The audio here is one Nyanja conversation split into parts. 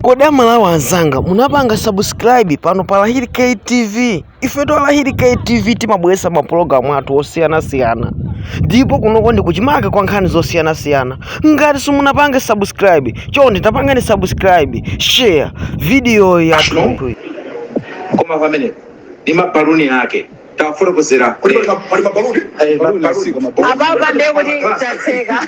Kodi aMalawi anzanga munapanga subscribe pano pa Lahiri K TV? Ifeto a Lahiri K TV timabweresa mapulogalamu athu osiyanasiyana ndipo kunoko ndi kuchimake kwa nkhani zosiyanasiyana. Ngati simunapange subscribe, chonde tapangani subscribe, share video yathu. koma pamene ndi mabaluni ake tafotokozera pali ma- pali mabaluni Eh, baluni Mabaluni. asiko, mabaluni. apapa ndiye kuti tatseka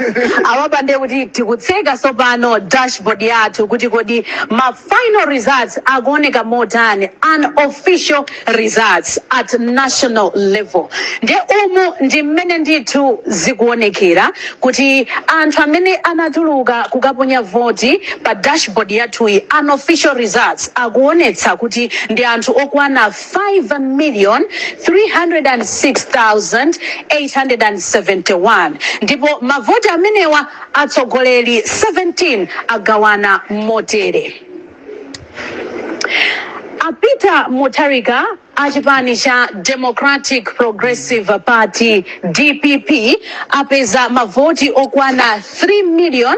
apapa ndiye kuti tikutseka tsopano dashboard yathu kuti kodi ma final results akuoneka motani unofficial results at national level nde umu ndi mmene ndithu zikuonekera kuti anthu amene anatuluka kukaponya voti pa dashboard yathuyi unofficial results akuonetsa kuti ndi anthu okwana 5,306,871 ndipo mavoti amenewa atsogoleri 17 agawana motere, A Peter Mutharika a chipani cha Democratic Progressive Party, dpp, apeza mavoti okwana 3 million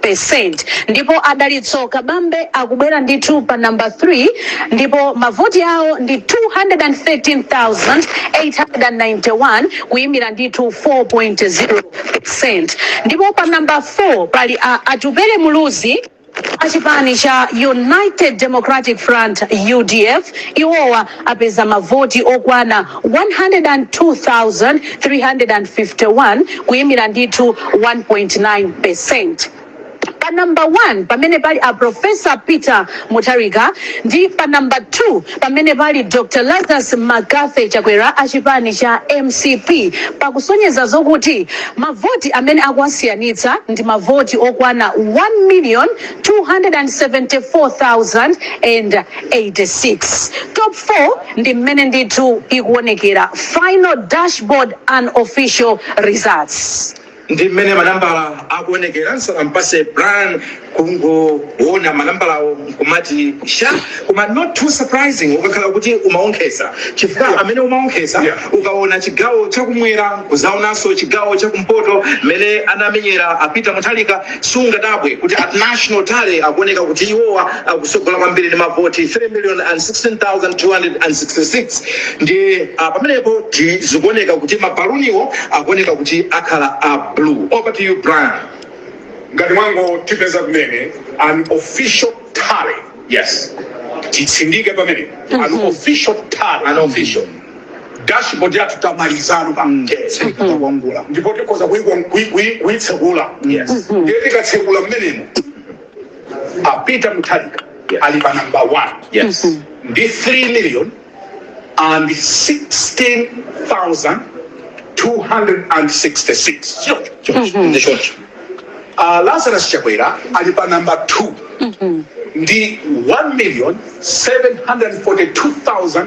percent ndipo a Dalitso Kabambe akubwera ndithu pa number 3 ndipo mavoti awo ndi 213,891 kuyimira ndithu 4.0 percent ndipo pa number 4 pali a Atupele Muluzi achipani cha United Democratic Front UDF iwowa apeza mavoti okwana 102,351 kuyimira ndithu 1.9%. Pa number 1 pamene pali a Prof. Peter Mutharika ndi pa number 2 pamene pali Dr. Lazarus Mccarthy Chakwera a chipani cha mcp pakusonyeza zokuti mavoti amene akuwasiyanitsa ndi mavoti okwana 1,274,000 86 top 4 ndi mmene ndithu ikuonekera final dashboard unofficial results. ndi mmene manambala akuonekera nsanampase Brian kungoona manambalawo nkumati sha koma not too surprising ukakhala kuti umaonkhesa chifukwa Yeah. amene umaonkhesa Yeah. ukaona chigawo chakumwera kuzaonanso chigawo chakumpoto mmene anamenyera a Peter Mutharika Sungadabwe kuti at national tally akuoneka kuti iwowa akutsogola kwambiri ndi mavoti 3,016,266 ndiye ah, pamenepo ti- zikuoneka kuti mabaluniwo akuoneka kuti akhala a blue. Over to you Brian. ngati mwangotipeza kumene unofficial tally yes titsindike pamene unofficial tally Unofficial. dashboard yathu tamalizano pa mtetse kuwerengera ndipo tikhoza kuyi- kuyi- kuyi- kuyitsekula ndiye tikatsekula mmenemo a Peter Mutharika ali pa number one Yes. ndi 3 million and 16,266 Sure. Sure. Ndi sure. uh, lazarus chakwera ali pa number 2 ndi 1 million 742,000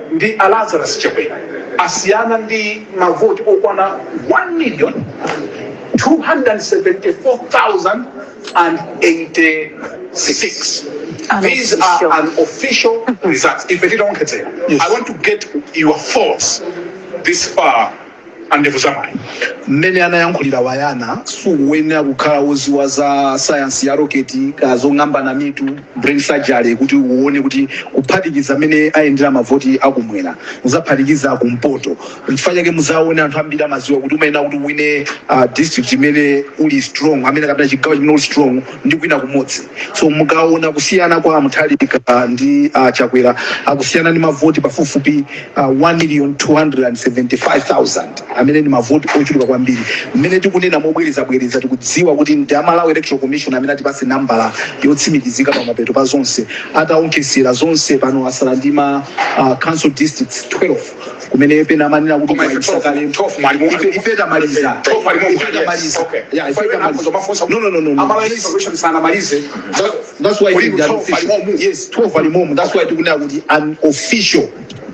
ndi a Lazarus Chakwera asiyana ndi mavoti okwana 1 million 274,086. These are unofficial results. If you don't get it, I want to get your thoughts this far andevu za mayi. Mmene anayankhulira Wayana sukuyenera kukhala woziwa za sayansi ya roketi kaya zong'ambana mitu, brain surgery, kuti uwone kuti kuphatikiza mmene ayendera mavoti a kumwera kuzaphatikiza a kumpoto. Nchifukwa chake muzawone anthu ambiri amaziwa kuti umayenera kuti uwine district imene uli strong, amene kapena chigawo chimene uli strong. ndi kuwina kumodzi so mukaona kusiyana kwa Mutharika ah, ndi uh, chakwera akusiyana ndi mavoti pafupifupi uh, 1 million 275000 amene ndi mavoti ochuluka kwambiri mmene tikunena mobwerezabwereza tikudziwa kuti ndi a Malawi electoral commission amene atipase nambala yotsimikizika pa mapeto pa zonse ataonkhesera zonse pano asala ndi ma uh, council districts 12 kumene pena amanena kuti kumayisa kale ife ife tamaliza ife tamaliza yeah ife tamaliza no no no no no that's why we are official yes 12 ali momo that's why tikunena kuti unofficial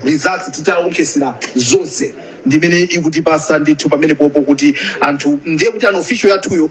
results titaonkhesera zonse ndimene ikutipasa ndithu pamenepopo kuti anthu ndiye kuti unofficial yathuyo